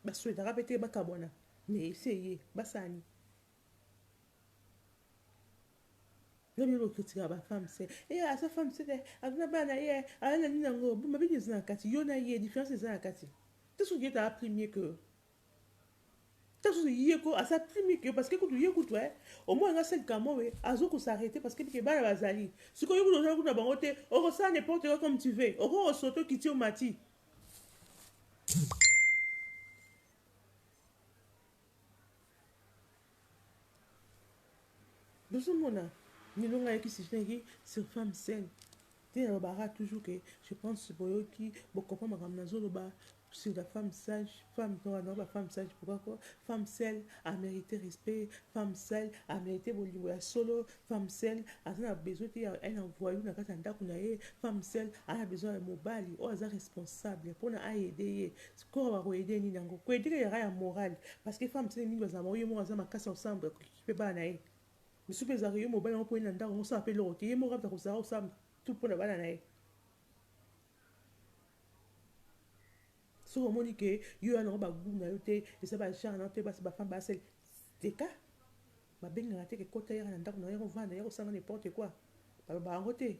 Ba souhaitaka pe te ba kabwana mais esi eye ba sani. Nde bino bo critikaka ba femme se eh aza femme se te aza na bana na ye aza na nini yango bo mabe nini eza na kati yo na ye difference eza na kati te soki ye te a pris mieux que Ta susu ye ko asa plus mis que yo parce que kutu ye kutu eh omona nga seul kamoe azo ko s'arreter parce que yebi ke bana bazali sikoyo yo kutu ozali kutu na bango te oko sala n'importe quoi comme tu veux oko ko sauter okiti omati Bozo mona lelo nga nayaki sujet nayaki sur femme seule ti nalobaka toujours que je pense boyoki bo comprendre makambo nazo loba sur la femme sage femme to wana ba femme sage pourquoi ko femme seule a merite respect femme seule a merite bolingo ya solo femme seule aza na besoin te ya un envoyou na kati ya ndako na ye femme seule aza na besoin ya mobali oyo aza responsable mpona ayede ye Kora ba ko aider nini yango? Ko aider ezalaka ya moral parce que femme sele mingi bazalaka bango ye moko aza makasi ya kosala ko kipe bana na ye. Misusu pe ezalaka yo mobali yango po oye na ndako yango osala pe eloko te ye moko aza kozala kosamba tout pona bana na ye. Soki omoni que yo oza nango ba gout na yo te eza ba genre na yo te basi ba femme ba sele teka ba bengaka te que kota yaka na ndako na yo yaka ovanda yaka osala n'importe quoi ba lobaka yango te?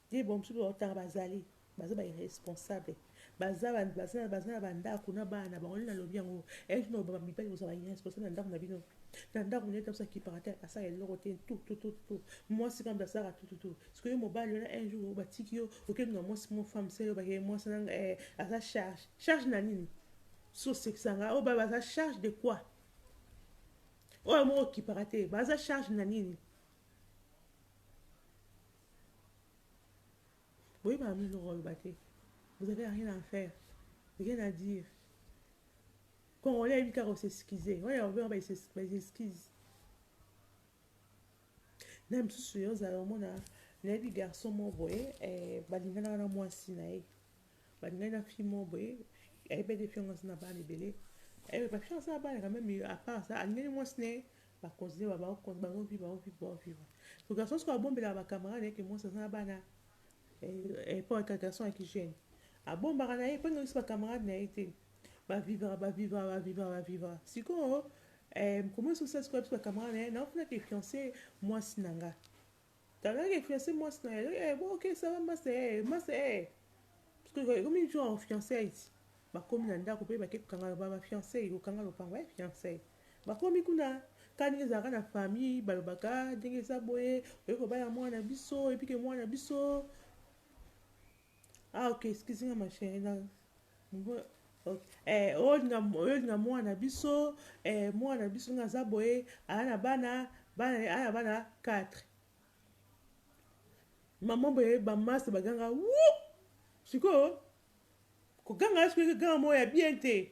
Te ba mususu ba tanga bazali baza ba irresponsable baza baza na ba ndaku na bana na bango nde na lobi yango un jour nako ba mibali boza ba irresponsable na ndaku na bino na ndaku naye tabusa kipaka te asala eloko te tout tout tout tout mwasi kambe asalaka tout tout tout siko yo mobali wana un jour ba tiki yo okende na mwasi mo femme selo ba ke mwasi na eh, aza charge charge na nini so seksanga oyo ba baza charge de quoi oyo moko kipaka te baza charge na nini boyebaka bino eloko aloba te vous avez rien à faire rien à dire congolais ayebi kaka osexcuse oyo akobenga baexcuse na mosusu yo ozala omona nayebi garçon moko boye eh, balinganaka na mwasi na ye Balingaki na fille moko boye, ayebaki te fille yango aza na bana ebele. Eh, ba fille aza na bana quand même, à part ça, alingaki mwasi na ye ba continuer ba ba bazo vivre, bazo vivre, bazo vivre. So garçon soki abombelaka ba camarade na ye ke mwasi aza na bana, eh, po ka garçon ya ki jeune, abombaka na ye po ayebisi ba camarade na ye te. Ba vivra, ba vivra, ba vivra, ba vivra. Sikoyo eh, comment est-ce que sikoyo ayebisi ba camarade na ye, naofuna ke fiance mwasi na nga. Tala ke fiance mwasi na yo eh bo ke sala masta eh masta eh parce que ekomi genre fiançailles bakomi na ndako pe bake kokanga ba fiançailles kokanga lopango eh fiançailles bakomi kuna kani ndenge ezalaka na famille balobaka ndenge eza boye oye kobala mwana na biso epike mwana na biso Ah ok excuse nga ma chérie na ngo ok eh olinga olinga mwana na biso eh mwana na biso nga aza boye aya na bana bana aya bana 4 maman boye ba masse baganga wuu sikoyo koganga soki ganga mo ya bien te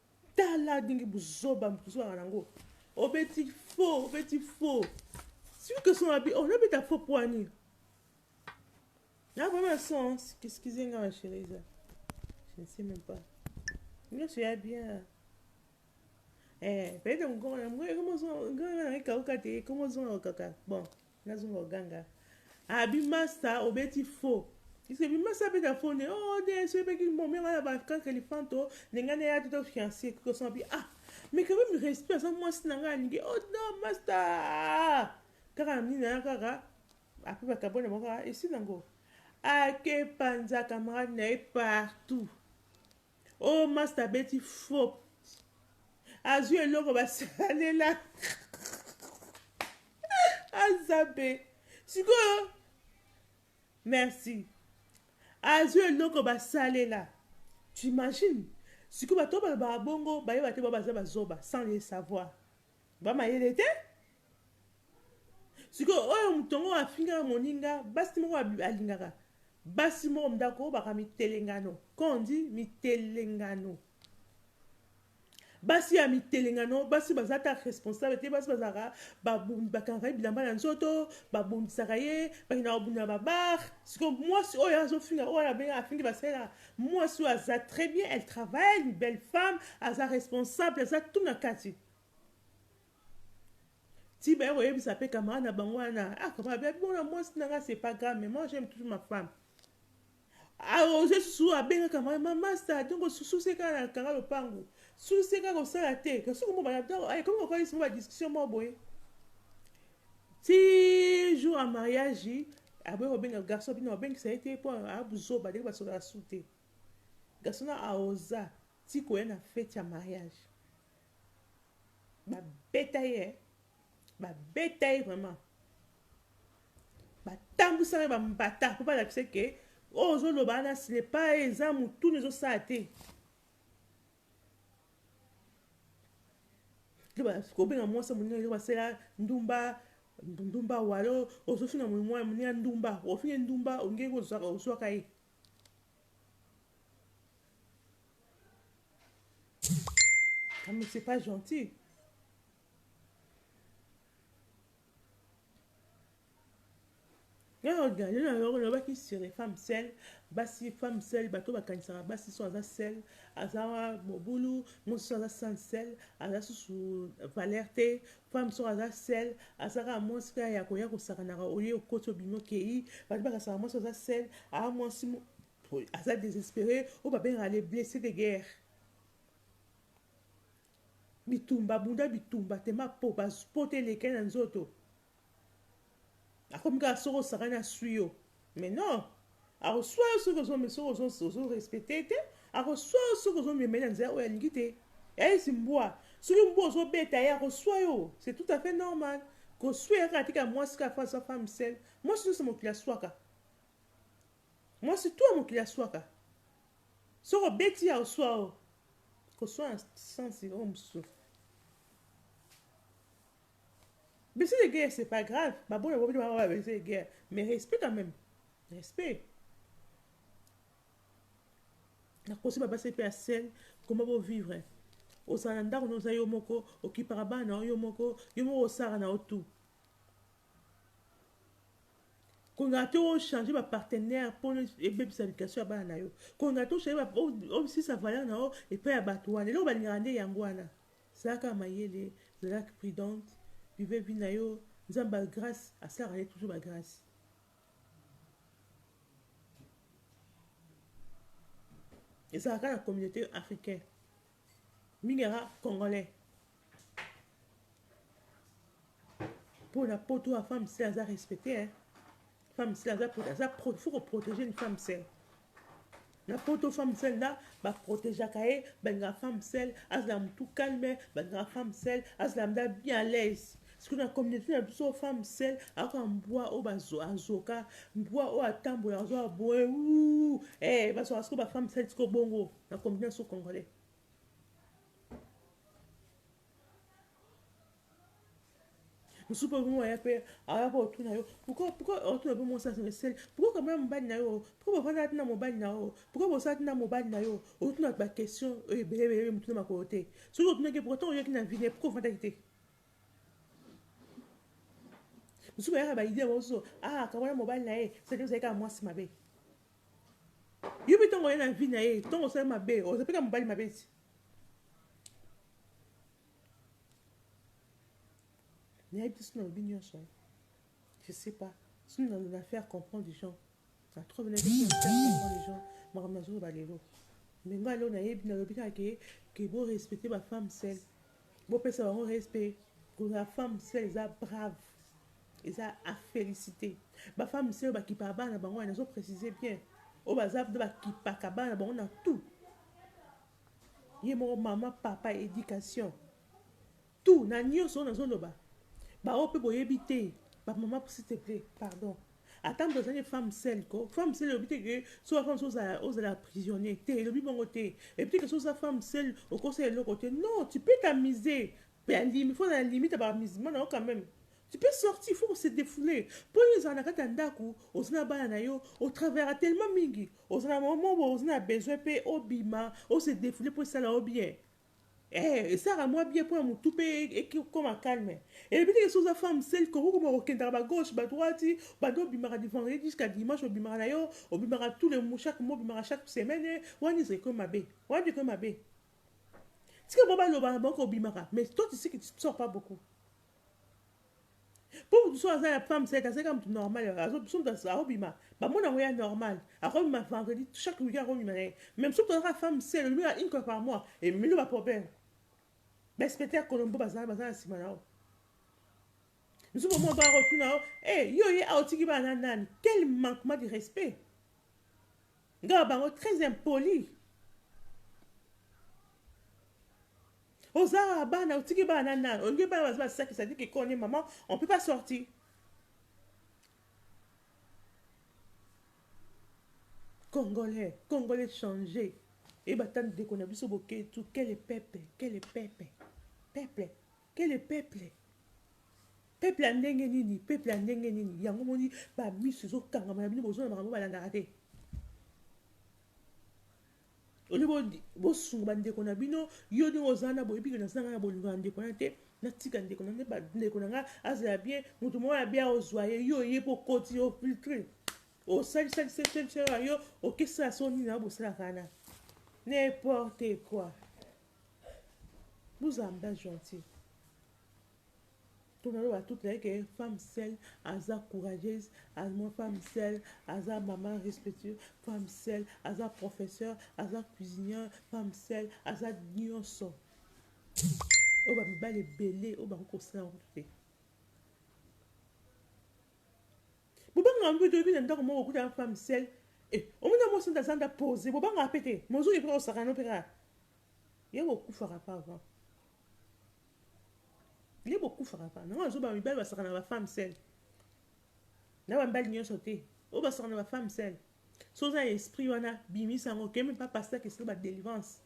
Tala ndenge buzoba mutu ozalaka na ngo obeti faux obeti faux celui que son abi ozo beta faux poa nini na vraiment sens excusez nga ma chérie eza je ne sais même pas nyoso ya bien eh peut-être mukoko na mukoko ekomo zonga nga na ekauka te ekomo zonga kaka bon Nazonga oganga ah bi masta obeti faux Iske bi masta beta faux ne oh de so pe ki momi ngana ba kan kalifanto ne ngana ya tuto fiancé ko so bi ah mais quand même respect ça moi si nanga alingi oh non masta kaka na nina kaka après ba kabona moko esi nango ake panza camarade na ye partout Oyo masta abeti faux azui eloko basalela aza mpe sikoyo merci azui eloko basalela t'imagine sikoyo bato oyo balobaka bongo bayeba te bao baza bazoba sans le savoir Ba mayele te sikoyo oyo moto yango afingaka moninga basi moko alingaka basi moko ndako baka mitelengano kondi mitelengano basi ya mitelengano basi baza ta responsable te basi bazalaka bakangaka ye bilamba na nzoto babundisaka ye bakendaka kobunda na babar sikoyo mwasi oyo azofinga oyo abenga afingi basela Muasi oyo aza très bien elle travaille une belle femme aza responsable aza tout na kati ti baye koyebisa pe camarade na bango wana ah camarade babi mona muasi na nga c'est pas grave mais moi j'aime toujours ma femme aoze ah, susu abenga camarade ma masta donc susu se kaka na kanga lopangu susu se kaka kosala te kasi komobana ekomi kokalisi mo badiscussion moko boye Ti jour ya mariage aboya kobenga garçon bino babengisa ye te po aya buzoba ndenge basolaka su te garçon na aoza ti koya na fete ya mariage babeta ye eh. babeta ye vraiment batambwisaka ye bambata mpo balakisa ke oyo ozoloba wana silepa eza motuna ezosala te Yo ba kobenga mwasi ya moninga yo basela ndumba ndumba walo ozofinga moninga ya moninga ndumba ofinge ndumba olingi ye kozwaka ozwaka ye Ah, mais c'est pas gentil. Nga na regarde na yo olobaki sur les femmes seules basi femme seule bato bakanisaka basi so aza seule aza mobulu mwasi so aza sans seule aza susu valeur te femme so aza seule aza kaka mwasi kaka ya koya kosakanaka olie okoti obimi okei bato bakanisaka mwasi aza seule aa mwasi mo- oyo aza désespéré oyo babengaka les blessés de guerre bitumba bunda bitumba tema po bas- po te elekeli na nzoto Akomi kaka soki osakani aswi yo. Mais non, akoswa yo soki ozo soki ozo ozo respecter te, akoswa yo soki ozo mema na nzela oyo alingi te. Esi mbwa, soki mbwa ozo beta ye akoswa yo. C'est tout à fait normal. Koswa ya kaka tika mwasi kaka fa sa femme seule. Mwasi nyoso mokili aswaka. Mwasi tout mokili aswaka. Soki obeti ya oswa yo. Koswa na sense oyo mosusu. Blessure de guerre c'est pas grave, ba boya bobi ba blessure de guerre, mais respect quand même. Respect. Na kosi ba basi pe sel, comment bo vivre? Ozala ndako no za yo moko, okipaka bana yo moko, yo moko osara na yo tout. kolingaka te ochange bapartenaire mpo ebebisa education ya bana na yo kolingaka te ochange osisa valeur na yo epai ya bato wana eloko balingaka nde yango wana Zalaka mayele, zalak prudente, vive vie na yo, nzambe ba grace asalaka nde toujours ba grace. Ezalaka kaka na communaute africain mingi yaka congolais. Pona poto a femme se aza respecte hein. femme sel aza prote aza prote faut ko protéger une femme sel na poto femme sel na ba protégeaka ye balingaka femme sel azala mutu calme balingaka femme sel azala mda bien à l'aise soki na communauté na biso femme sel akoka mbwa oyo azoka mbwa oyo atambola azoa boye eh, bazoka soko bafemme sel siko bongo na communauté na biso congolais mosusu mpe okomi aya mpe aya mpe otuna yo pourkoi pourkoi otuna mpe mwasi asanga esali pourkoi kama ya mobali na yo pourkoi bafandaka tina mobali na yo pourkoi bosala tina mobali na yo otuna baquestion oyo ebele ebele motuna makolo te soki otunaki pourkoi ntango oyaki na vine pourkoi ofandaki te mosusu bayaka baidea mosusu ah kama ya mobali na ye sadi ozali kaka mwasi mabe Yo pe tongo oye na vie naye tongo osali mabe oza pe na mobali mabe ti nayebi te soki nalobi nyonso je sais pas soki na faire comprendre des gens na trop na faire comprendre des gens makambo nazoloba lelo mais ngai lelo nayebi nalobi kaka ke ke bo respecte ba femme sel bopesa bango respect kozala femme sel eza brave Eza a feliciter. Ba femmes oyo ba kipaka bana na bango wana nazo preciser bien. Oyo baza ba kipaka bana na bango na tout. Ye moko maman, papa, education. Tout na nionso oyo nazo loba. Ba oyo pe boyebi te. Ba maman s'il te plaît, pardon. Ata moto azali femme seule ko. Femme seule elobi te que so femme so ozala ozala prisonnier te, elobi bongo te. Elobi te que so oza femme seule okosala eloko te. Non, tu peux t'amuser. pe andimi faut na limite ya ba musulmans na yo quand meme tu peux sortir il faut ko se defouler po yo ozala na kati ya ndaku oza na bana na yo o travaillaka tellement mingi oza na moment boye oza na besoin pe obima o se defouler po esala yo bien eh esalaka mwa bien mpo na motu mpe ekoma calme eyebi te esi oza femme sel koki koma kokendaka ba gauche ba droite banda obimaka du vendredi jusqu'à dimanche obimaka na yo obimaka tout le chaque mois obimaka chaque semaine wana ezali koyo mabe wana ekoyo mabe Tika bango baloba na bango kobimaka mais toi tu sais que tu ne sors pas beaucoup. Mpo moto soki aza ya femme seke azalaka moto normal so moto akobima bamona yango ya normal akobima vendredi chaque weekend akobima na ye meme soki tozalaka femme sele olobika une fois par mois emilo baproblème bainspecteur ya colombo bazala baza na nsima na yo misu bomo baa kotuna yo e yo ye aotiki bana na nani quel manquement de respect Nga bango très impoli. Oza bana otiki bana na nani? Olingi bana baza ba saki saki kiko ni maman, on peut pas sortir. Congolais, Congolais changer. Et batani deko na biso boketu, quel peuple, quel peuple. Peuple. Quelle peuple? Peuple ya ndenge nini? Peuple ya ndenge nini? Yango omoni ba misu ezo kangama na bino bozo na makambo balandaka te. Au lieu bo sunga ba ndeko na bino, yo ndenge oza na boyebi que naza na bolingo na ndeko na te, natika ndeko na ngai, ndeko na ngai azala bien, moto moko ya bien ozwa ye, yo oye po koti yo filtre. Osali sali sali sali sali yo okesala soni na bosalaka na n'importe quoi. Buzamba gentil. Tuna loba toute la que femme seule aza courageuse, azmo femme seule aza maman respectueuse, femme seule aza professeur, aza cuisinière, femme seule aza nionso. Oyo ba mibali ebele oyo ba kosala te. Bobangaka mpe te, oyebi na ndako moko okuta na femme seule eh omoni na mwasi na zanda pose bobangaka mpe te mozoki mpe kosaka no mpe kaka ye bokufaka pa avant ye bokufaka pa nango azoba mibali basaka na ba femme seule na bambali nyonso te oyo basaka na ba femme seule so oza na esprit wana bimisa yango kemi mpa pasteur kesika ba délivrance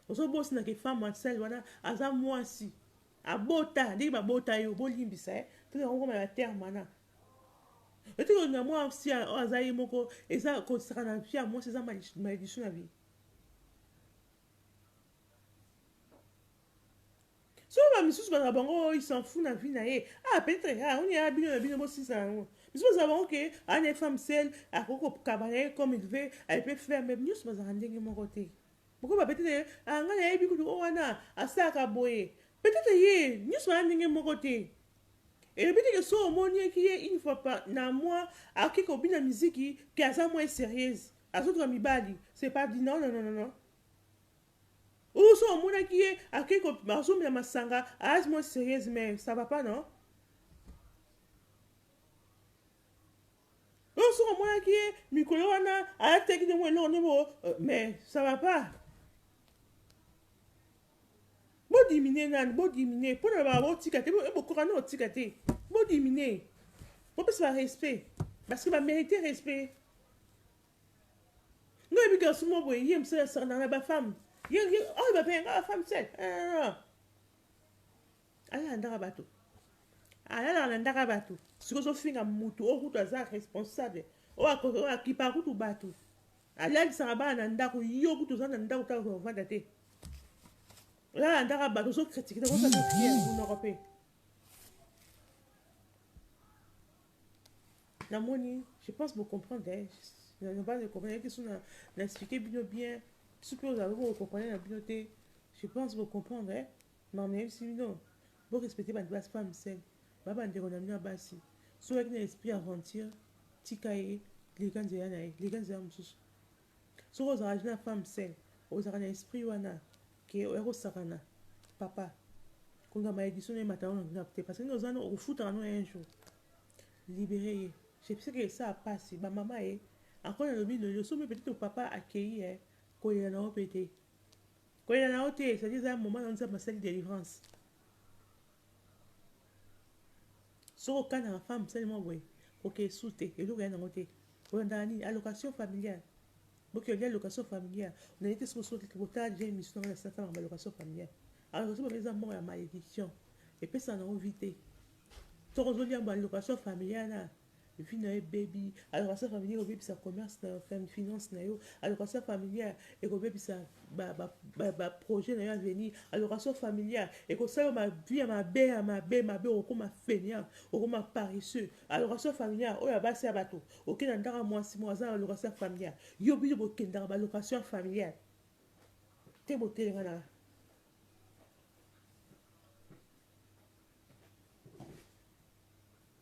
ozobosana ke femme seule wana aza mwasi Abota ndenge ba bota yo bo limbisa eh tika ko koma ba terme wana yo tika ko linga muasi oyo aza ye moko eza ko sakana na vie ya muasi eza malediction na vie soki ba misusu bazala bango oh, il s'en fout na vie na ye ah peut être ah oni ya bino na bino bo sisa yango misusu bazala bango ke ana ye femme seule akoki kokaba na ye comme il veut elle peut faire mais nyonso bazalaka ndenge moko te Pourquoi ba bete naye ah nga na yebi kutu oyo wana asalaka boye peut etre ye nionso baza ndenge moko te elobi te ke soki omoniaki ye une fois par na mois akoki kobina miziki ke aza moins serieuse azotuka mibali c'est pas dit non non non non ou soki omonaki ye akoki ko azomela masanga aza moins serieuse mais ça va pas non Oyo soki omonaki ye mikolo wana alataki nde mwa eloko nde bo euh, mais ça va pas bodiminue nani bodiminue mpo na baa botika te bokoka nde otika te bodiminue bopesa barespect parce que bamérite respect ngai yebi garçon moko boye ye mosala asakana na bafemme oyo bapengaka bafemme sel alandaka bato alalaka na ndaka bato siko ozofinga mutu oyo kutu aza responsable oyo akipaka kutu bato alalisaka bana na ndako yo kutu oza na ndako kaka kovanda te olala ndaka bato ozokritike te kosala priere monoko mpe namoni je pense bocomprendre eh, nabana ekomprene te so na explike bino bien biso mpe ozala boko okomprene na bino te je pense bocomprendre eh. Mawa nayebisi bino bo respecter ba ba femmes seules ba ba ndeko na bino ya basi soki ozalaki na esprit ya aventure tika ye leka nzela na ye leka nzela mosusu soki ozalaka jeune femme seule ozalaka na esprit wana ke oya kosakana papa konga malediction na emata wana na te parce que oza no okofutaka no un jour libere ye je pense que ça passe ba mama ye encore na lobi no yo somme peut-être papa akeyi eh kolela na yo pete Kolela na yo te ezali eza moment na nzambe asali delivrance soki okana na femme sali mwa boye koke esu te eloko ya nango te olandaka nini allocation familiale boki olia location familiale onaye te soki osoki kotala deja émission na ngai na satana ba location familiale allocation familiale eza moko ya malediction epesa nango vie te soki ozolia ba location familiale na vie nayo ebebi allocation familiale ekobebisa commerce nayo finance nayo allocation familiale ekobebisa ba projet nayo avenir allocation familiale ekosala ma vie ya mabe ya mabe mabe okokoma fainéant okokoma paresseux allocation familiale oyo abasi ya bato okei na ndako ya mwasi moko aza na allocation familiale yo bino bokendaka ba allocation familiale te botelema na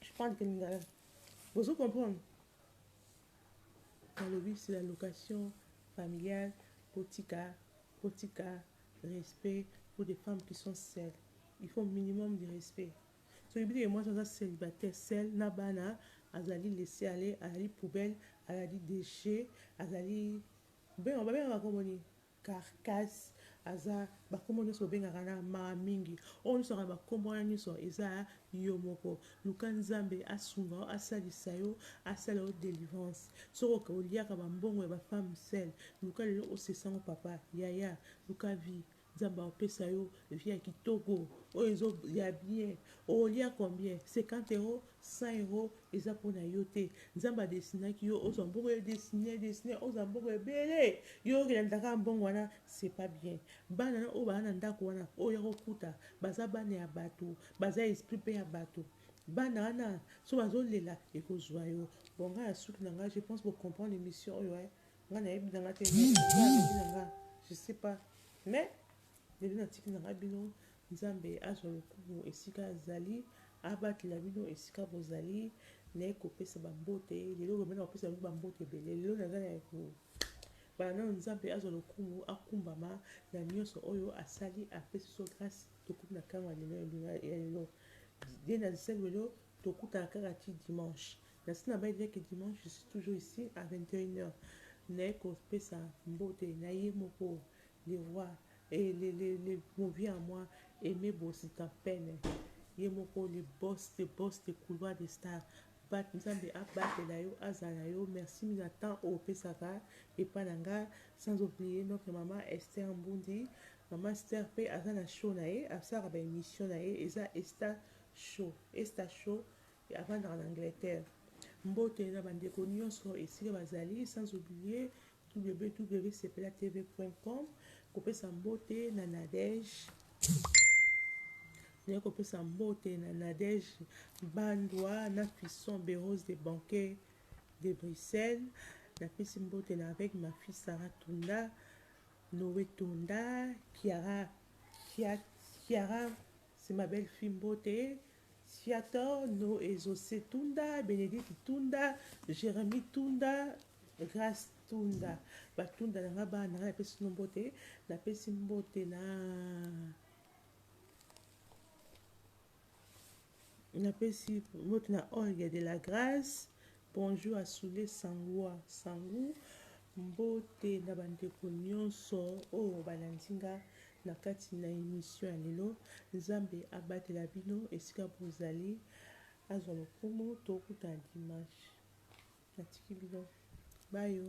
Je parle de lingala. Bozo comprendre? Nalobi c'est la location familiale botika botika respect pour des femmes qui sont seules. Il faut minimum de respect. soki bino ye mwasi aza célibataire sel na bana azali laisse aller azali poubelle azali déchet azali babengaka bango nini Carcasse aza ba kombo nioso obengaka na mawa mingi oyo nioso kaka ba kombo wana nioso eza yomoko luka nzambe asunga yo asalisa yo asala yo delivrance soki oliaka ba mbongo ya ba femme seul luka lelo osesa ngo papa yaya luka vie nzambe akopesa yo vie ya kitoko oyo ezo ya bien olia combien 50 euros 100 euros Eza pona yo te nzambe a destinaki yo ozwa mbongo yo destine destine ozwa mbongo ebele yo oke landa kaka mbongo wana c'est pas bien bana na oyo bana na ndako wana oyo ya kokuta baza bana ya bato baza esprit pe ya bato bana wana so bazolela ekozwa yo bon ngai na suki na ngai je pense bocomprendre émission oyo e eh. ngai nayebi na ngai te na ngai je sais pas mais lelo natiki na ngai bino Nzambe azwa lokumu esika azali, abatela bino esika bozali, naye kopesa ba mbote, lelo lobi na kopesa bino ba mbote ebele, lelo naza na ko bala nanu Nzambe azwa lokumu, akumbama na nionso oyo asali, apesi biso grace tokomi na tango ya lelo ya lelo, bien ancien lelo tokutana kaka ti dimanche, nasi na baye dejà que dimanche je suis toujours ici à 21 heures, naye kopesa mbote naye moko le roi Et le le le movie à moi Aime Bozita Pene ye moko le boss de boss de couloir de star bat nzambe abatela yo azala yo merci mingi na temps oyo opesaka epa na nga sans oublie notre maman Esther Mbundi maman Esther pe aza na show na ye asalaka ba emission na ye eza Esta show Esta show Avandaka na Angleterre. Mbote na ba ndeko nionso esika bazali sans oublier www.sepelatv.com kopesa mbote na Nadège naye kopesa mbote na Nadège Bandwa na Fisson Berose de Banquet de Bruxelles napesi mbote na avec ma fille Sarah Tunda Noé Tunda Kiara Kiara c'est ma belle fille mbote Viator no ezose tunda benedite tunda jeremie tunda grace tunda batunda na nga bana na nga napesi bino mbote napesi mbote na napesi mbote na olga de la grace Bonjour à soule sangua sangu mbote na ba ndeko nionso oyo balandi nga na kati na emission ya lelo nzambe abatela bino esika bozali azwa lokumu tokutana dimanche natiki bino bayo.